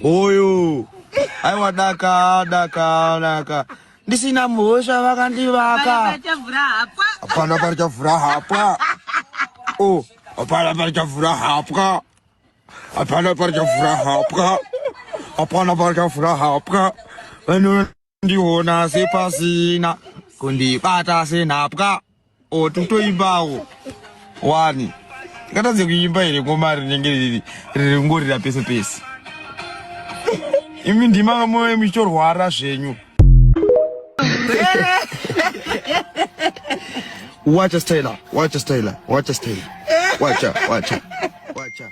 Oyo. Aiwa daka daka daka. Ndisina mhosva vakandivaka. Hapana pari chavhura hapwa. Oh, hapana pari chavhura hapwa. Hapana pari chavhura hapwa. Hapana pari chavhura hapwa. Vanhu ndiona sepasina kundibata senhapwa otutoimbawo wani ngatadze kuimba here ngoma rinenge riri ringorira pese pese imi ndima moyo muchitorwara zvenyu wacha style wacha style wacha style wacha wacha wacha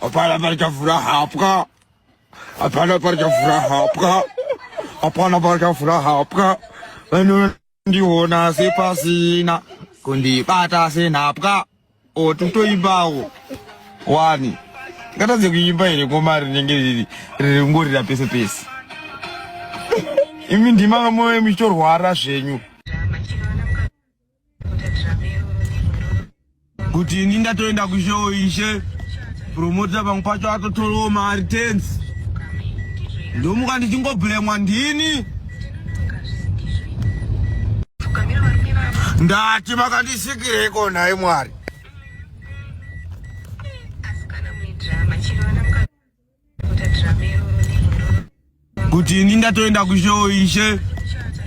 Hapana parichavhura hapwa. Hapana parichavhura hapwa. Hapana parichavhura hapwa. Vanondiona sepasina kundibata senhapwa. O totoimbawo wani. Ngatadze kuimba here ngoma rinenge riri ringorira pese pese. Imi ndima vamwe muchitorwara zvenyu. kuti ini ndatoenda kushow ishe promota pamwe pacho atotorawo mari tens ndomuka ndichingobhuremwa ndini ndati makandisikireko nhai mwari kuti ini ndatoenda kushow ishe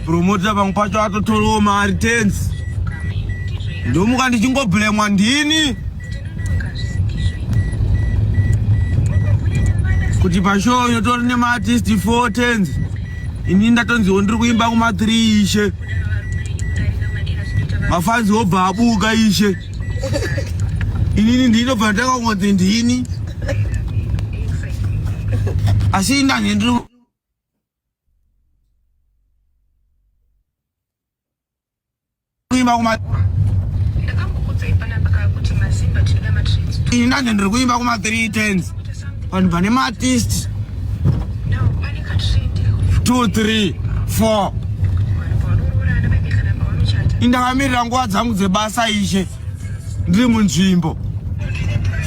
promota pamwe pacho atotorawo mari tens ndomuka ndichingobhlemwa ndini kuti pashow yotori nemaartist four tens ini ndatonziwo ndiri kuimba kuma three ishe mafanzi obva abuka ishe inini ndinobva ndakangonzi ndini asi indange ndiri kuimba kuma ini ndanje ndiri kuimba kuma 3 tens vanhu vane maartist two three four indakamirira nguva dzangu dzebasa ishe ndiri munzvimbo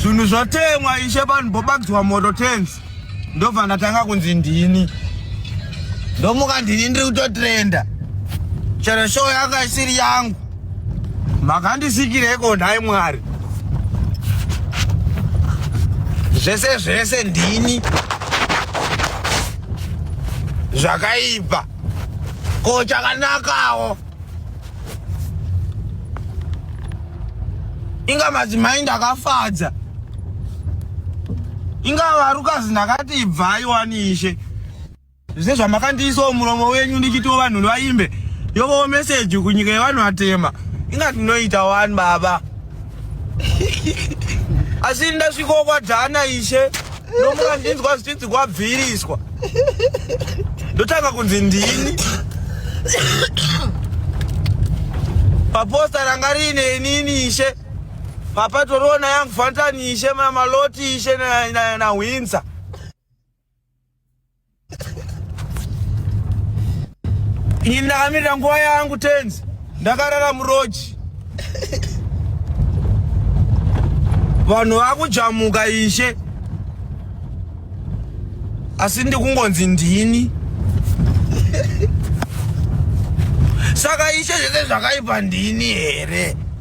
zvinhu zvotemwa ishe vanhu bobakidzwa moto tens ndobva ndatanga kunzi ndini ndomuka ndini ndiri kutotrenda chero show yanga isiri yangu makandisikireko nhai mwari zvese zvese ndini zvakaipa ko chakanakawo inga madzimai ndakafadza inga varukazi ndakati ibvai wanishe Zvese zvamakandiisawo muromo wenyu ndichitiwo vanhu vaimbe yovowo meseji kunyika yevanhu vatema inga tinoita wani baba asi ndasvikawo kwadhana ishe ndomuka ndinzwa zvichinzi kwabviriswa ndotanga kunzi ndini paposta ranga riine inini ishe papatoriwo nayangu fantani ishe namaloti ishe nahwinza na, na, na Ini ndakamirira nguva yangu tenzi, ndakarara muroji. Vanhu vakujamuka ishe, asi ndikungonzi ndini. Saka ishe zvese zvakaipa ndini here?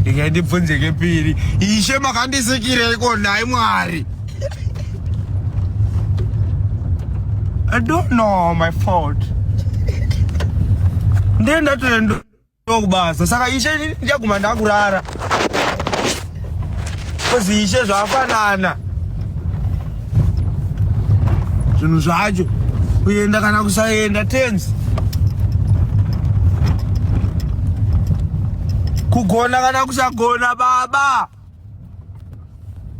ndingai ndibvunze kepiri ishe makandisikireko nhai mwari i don't know my fault ndiye ndatoenda kubasa saka ishe ndichaguma ndakurara kozi ishe zvafanana zvinhu zvacho kuenda kana kusaenda tenzi kugona kana kusagona baba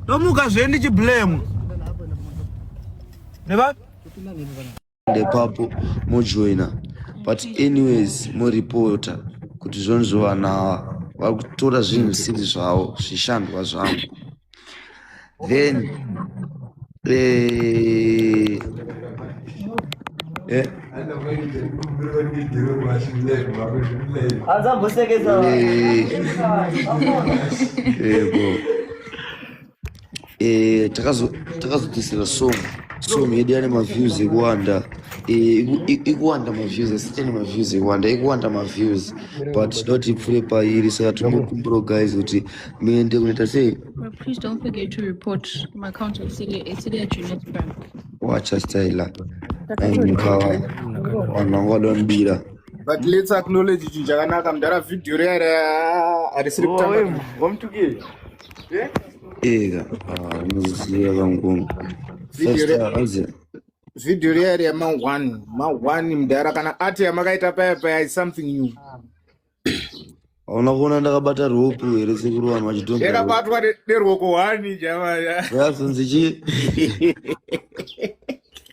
tomuka zve ndichiblame neba ndepapo mojoina but anyways moripota kuti zvonzvo vanhu ava vari kutora zvinhu zvisiri zvavo zvishandwa zvangu then eh, eh, Anza mbusekeza. eh, yebo. eh, takazodzisira song song yedu yane maviews ekuwanda eh, ikuwanda maviews asitene maviews ekuwanda ikuwanda maviews but tinoda kuti ipfure pairi saka tinokumbirawo guys kuti muende kunoita sei wacha styla mukawa vanhu vanga vada vanobira but let's acknowledge chinhu chakanaka mudhara vhidhiyo riyara harisiri kutamba Ega, ah, unoziva kangungu. First, ah, azi. Video real ya ma one, ma one mdara kana ati yamakaita paya paya is something new. Hauna kuona ndakabata ruoko here sekuru vanhu vachitonga. Ndakabatwa neruoko one jama. Yasinzi chi.